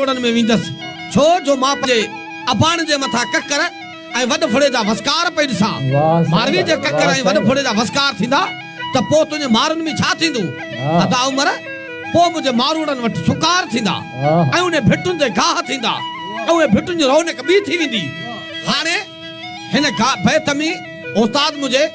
روڙن ۾ ويندس، ڇو جو مان پنهنجي اباڻ جي مٿان ڪڪر ۽ وڏ ڦڙي جا وسڪار پئي ڏسان. ماروي جي ڪڪر ۽ وڏ ڦڙي جا وسڪار ٿيندا ته پوء تنهنجي مارن ۾ ڇا ٿيندو؟ ادا عمر، پوء منهنجي ماروڙن وٽ سڪار ٿيندا ۽ انهي ڀٽن تي گاهه ٿيندا ۽ انهي ڀٽن جي رونق ٻي ٿي ويندي. هاڻي هن گاهه بيت ۾ استاد منهنجي.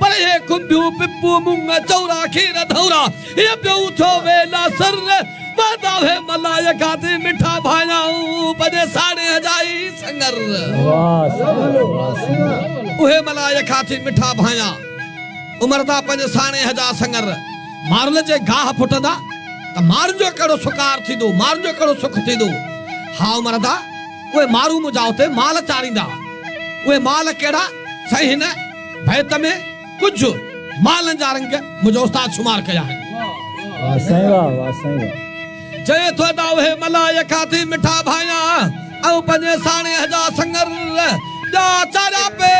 پر اهي کنڀيون پپون مونگ چورا کير ڌورا هي پيو ٿو ويلا سر وهندا هي ملائي کاتي مٺا ڀايائون پنهنجي ساڙهي هجائي سڱر اهي ملائي کاتي مٺا ڀايا امردا پنهنجي ساڻي هجا سڱر مارل جي گاهه ڦٽندا ته مارن جو ڪهڙو سڪار ٿيندو مارن جو ڪهڙو سک ٿيندو ها امردا اهي مارون منهنجا اتي مال چاريندا اهي مال ڪهڙا سائين هن بيت ۾ ڪجهه مالن جا رنگ منهنجو استاد شمار ڪيا آهن. واهه سائين واهه واهه سائين واهه. چوي ٿو ادا اهي ملائيء کان ٿي مٺا ڀانيان ۽ پنهنجي ساڻيهه جا سڱر ٻيا چاريا پي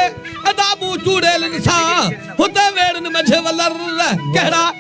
ادا مون چوڙيلن سان هتي ويڙهن منجهه ولر ڪهڙا